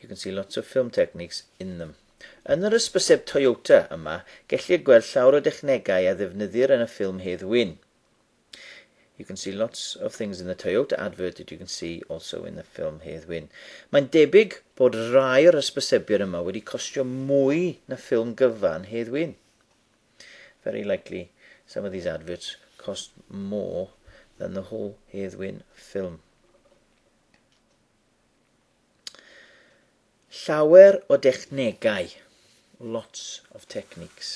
You can see lots of film techniques in them. Yn yr ysbyseb Toyota yma, gellir gweld llawer o dechnegau a ddefnyddir yn y ffilm Hedd Wyn. You can see lots of things in the Toyota advert that you can see also in the film Hedd Wyn. Mae'n debyg bod rai o'r ysbysebion yma wedi costio mwy na ffilm gyfan Hedd Wyn. Very likely some of these adverts cost more than the whole Hedd Wyn film. Llawer o dechnegau, lots of techniques.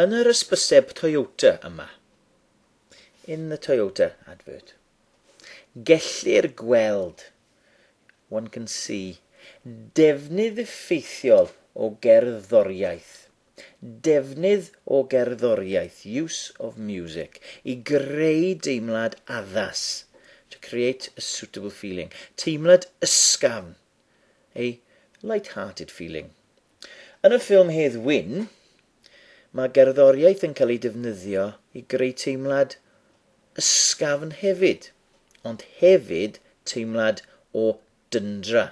Yn yr ysbyseb Toyota yma, in the Toyota advert, gellir gweld, one can see, defnydd effeithiol o gerddoriaeth defnydd o gerddoriaeth, use of music, i greu deimlad addas, to create a suitable feeling, teimlad ysgafn, a light-hearted feeling. Yn y ffilm Hedd Wyn, mae gerddoriaeth yn cael ei defnyddio i greu teimlad ysgafn hefyd, ond hefyd teimlad o dyndra.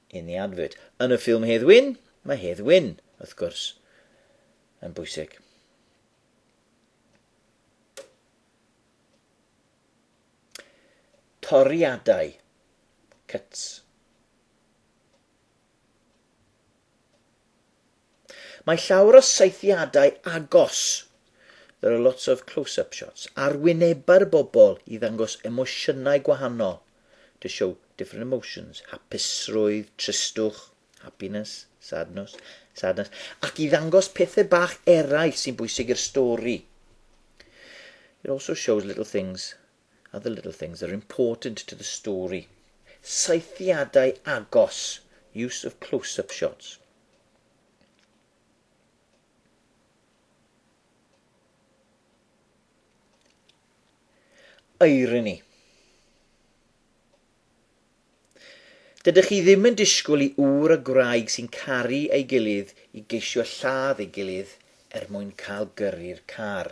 in the advert. Yn y ffilm Hedd Wyn, mae Hedd Wyn, wrth gwrs, yn bwysig. Toriadau, cuts. Mae llawer o saethiadau agos, there are lots of close-up shots, ar wynebau'r bobl i ddangos emosiynau gwahanol, to show different emotions, hapusrwydd, tristwch, happiness, sadness, sadness, ac i ddangos pethau bach eraill sy'n bwysig i'r stori. It also shows little things are the little things that are important to the story. Saethiadau agos, use of close-up shots. irony. Dydych chi ddim yn disgwyl i ŵr a gwraig sy'n caru ei gilydd i geisio lladd ei gilydd er mwyn cael gyrru'r car.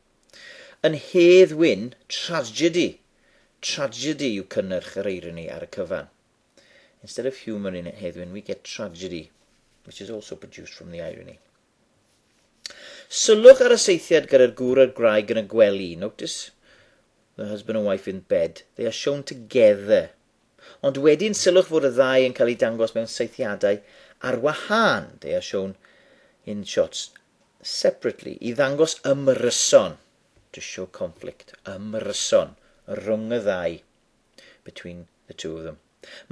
Yn Hedd Wyn, tragedy! Tragedy yw cynnyrch yr eironi ar y cyfan. Instead of humour in Hedd Wyn, we get tragedy, which is also produced from the irony. Sylwch ar y seithiad gyda'r gŵr a'r gwraig yn y gwely. Notice the husband and wife in bed. They are shown together Ond wedyn sylwch fod y ddau yn cael eu dangos mewn saethiadau ar wahân, they are shown in shots separately, i ddangos ymryson, to show conflict, ymryson, rhwng y ddau, between the two of them.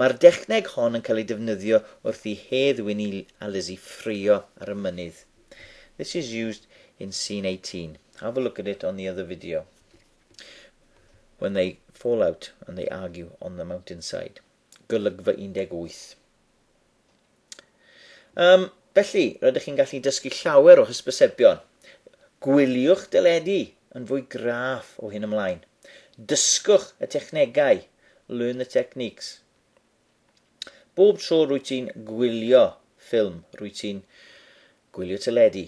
Mae'r dechneg hon yn cael ei defnyddio wrth i Hedd Wyn a Lizzie ffrio ar y mynydd. This is used in scene 18. Have a look at it on the other video. When they fall out and they argue on the mountainside. Golygfa 18. Um, felly, rydych chi'n gallu dysgu llawer o hysbysebion. Gwyliwch deledu yn fwy graff o hyn ymlaen. Dysgwch y technegau, learn the techniques. Bob tro rwy ti'n gwylio ffilm, rwy ti'n gwylio teledu.